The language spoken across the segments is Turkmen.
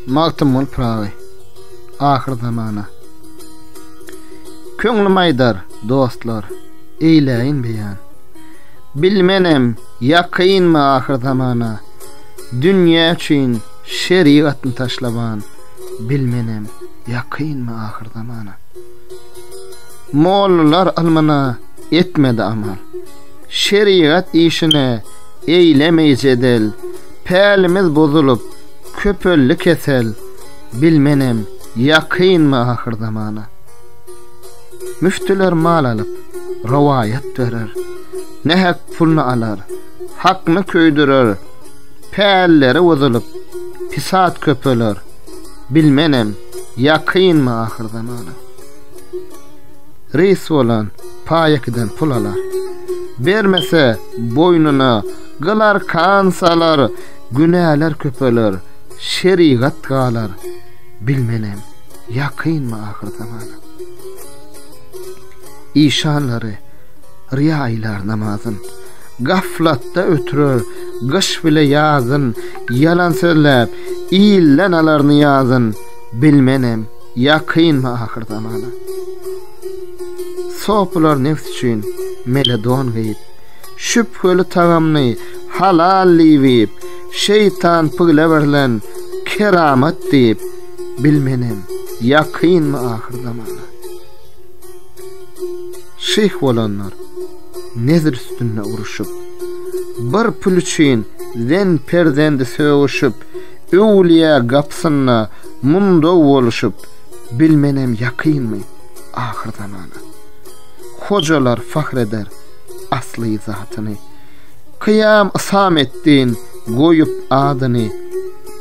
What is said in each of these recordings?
Magtymguly Pyragy Ahyr zamana Köňlüm aýdar, dostlar, eýläýin beýan. Bilmenem, ýakynmy ahyr zamana, dünýä üçin şerigatny taşlaban. Bilmenem, ýakynmy ahyr zamana. Mollalar almana etmedi amal. Şerigat işine eýlemeý jedel, Pälimiz bozulyp, köpeldi kesel, Bilmenem, ýakynmy ahyrzamana. Müftüler mal alyp, rowaýat berer, Nähak pulny alar, hakny köýdürer, Pälleri bozulyp, pisat köpeler, Bilmenem, ýakynmy ahyrzamana. Reýs bolan paýekidan pul alar. Bermese, boýnuna gyl-arkan salar, günäler köpeler, şerigat galar. Bilmenem, ýakynmy ahyr zamana. Işanlary riýa aýlar namazyn. Gaflatda ötürer gyş bile ýazyn, ýalan sözläp, ilden alar nyýazyn. Bilmenem, Ýakyn ahyr zamana. Sopylar neft üçin meledon geýip, şübheli tagamny halal diýip, şeýtan pygle berlen keramat diýip, bilmenem ýakyn ahyr zamana. Şeýh bolanlar nezir üstünde uruşyp, bir pul üçin zen perzendi sögüşip, Öwülýä gapysynda mundaw boluşyp bilmenem ýakynmy ahyr zamana. Hojalar fahr eder asly zatyny. Kyýam Ysametdin goýup adyny.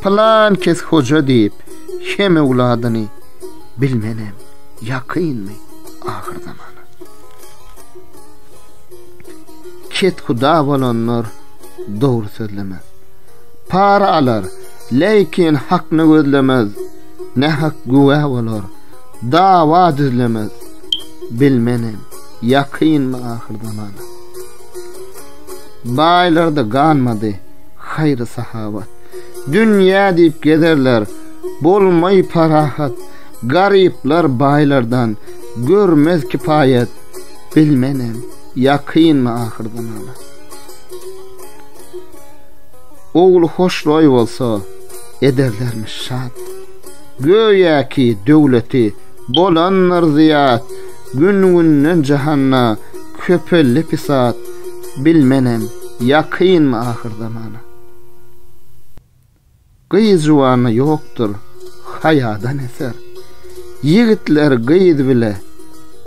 Pylan kes hoja diýip hem öwladyny. Bilmenem ýakynmy ahyr zamana. Kethuda bolanlar dogry sözlemez. Para alar, leýkin hakyny gözlemez, Nähak güwä bolar, dawa düzlemez. Bilmenem, ýakynmy ahyr zaman. Baýlarda ganmady, haýry-sahawat. Dünýä diýip gezerler, bolmaý parahat. Garyplar baýlardan, görmez kipaýat. Bilmenem, ýakynmy ahyr zaman. Ogly hoşroý bolsa, ederlermiş şat. Göýäki, döwleti bolandyr zyýat, Gün-günden jahanda köpeldi pisat, Bilmenem, ýakynmy ahyrzamana. Gyz juwanda ýokdur haýadan eser, Ýigitler gyz bile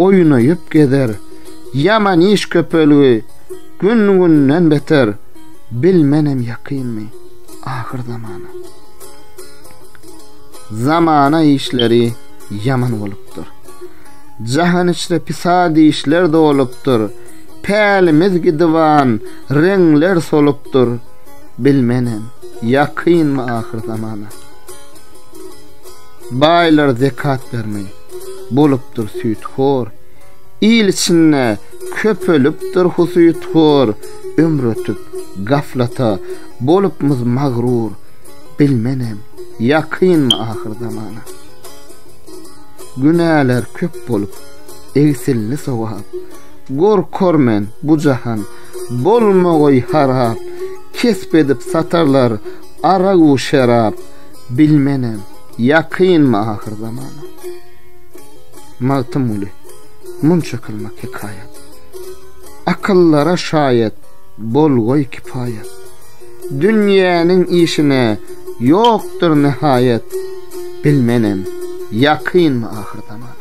oýnaýyp gezer, Ýaman iş köpelgi gün-günden beter, Bilmenem ýakynmy ahyr zamana. Zamana işleri ýaman bolupdyr, Jahan içre pisat işler dolupdyr, Pälimiz gidiban reňler solupdyr, Bilmenem, ýakynmy ahyr zamana. Baýlar zekat bermeý, bolupdyr süýthor. Il içinde köpelipdir husythor. Ömür ötüp, gaflata bolupmyz magrur. Bilmenem, ýakynmy ahyr zamana. Günäler köp bolup, egsildi sogap. Gorkar men bu jahan, Bolma goý harap, kesp edip satarlar arag-u şerap, bilmenem, ýakynmy ahyr zamana. Magtymguly, munça kylmak hekaýat. Akyllara şaýat, bol goý kipaýat. Dünýäniň işine ýokdur nihaýat, bilmenem, ýakynmy ahyr zamana.